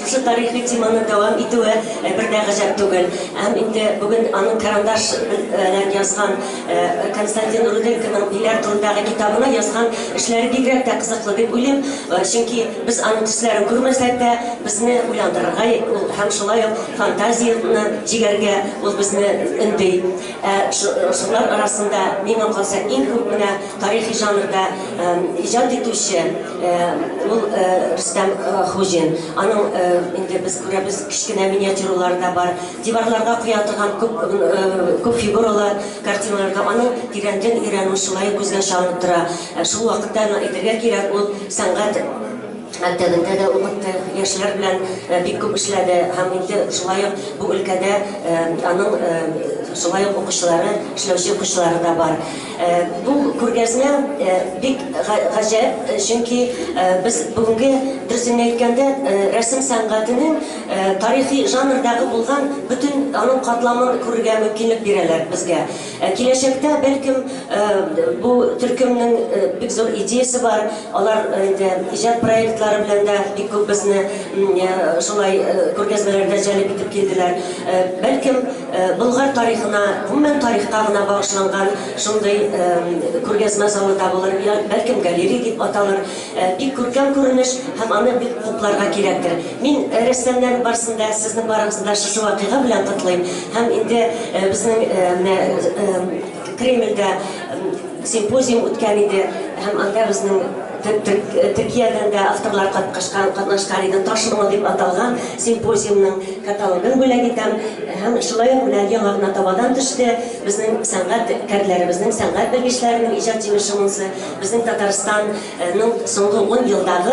Шушы тарихи теманы дәвам итүе бер дә гаҗәп түгел. Һәм инде бүген аның карандаш белән язган, Константин Руденконың Биләр турындагы китабына язган эшләре бигрәк тә кызыклы дип уйлыйм. Чөнки без аның төсләрен күрмәсәк тә, безне уйландырырга ул һәм шулай ук фантазияне җигәргә ул безне өнди. Ә шулар арасында миңа калса иң күп менә Тарихи жанрда иҗат итүче ул Рөстәм Хуҗин. Аның инде без күрәбез, кечкенә миниатюралары да бар. Диварларга куя торган күп күп фигуралы картиналар да аның тирәнтен өйрәнү шулай ук күзгә чалынып тора. Шул вакытта аны әйтергә кирәк, ул сәнгать мәктәбендә дә укытты, яшьләр белән бик күп эшләде һәм инде шулай ук бу өлкәдә аның шулай ук укучылары, эшләүче укучылары да бар. Бу күргәзмә бик гаҗәп, чөнки без бүгенге, дөресен генә әйткәндә, рәсем сәнгатенең тарихи жанрдагы булган бөтен аның катламын күрергә мөмкинлек бирәләр безгә. Киләчәктә, бәлкем, бу төркемнең бик зур идеясе бар, алар инде иҗат проектлары белән дә бик күп безне шулай күргәзмәләргә җәлеп итеп килделәр. Бәлкем. Болгар тарихына, гомумән тарихка гына багышланган шундый күргәзмә залы табылыр, я бәлкем галерей дип аталыр. Бик күркәм күренеш һәм аны бик хупларга кирәктер. Мин рәссамнар барысын да, сезнең барыгызны да шушы вакыйга белән котлыйм һәм инде безнең менә Кремльдә симпозиум үткән иде һәм анда безнең Төркиядән дә авторлар катнашкан, катнашкан иде Ташмала дип аталган симпозиумның каталогын бүләк итәм һәм шулай ук менә яңа гына табадан төште безнең сәнгать кәрләребезнең, сәнгать белгечләренең иҗат җимеше монысы, безнең Татарстанның соңгы 10 елдагы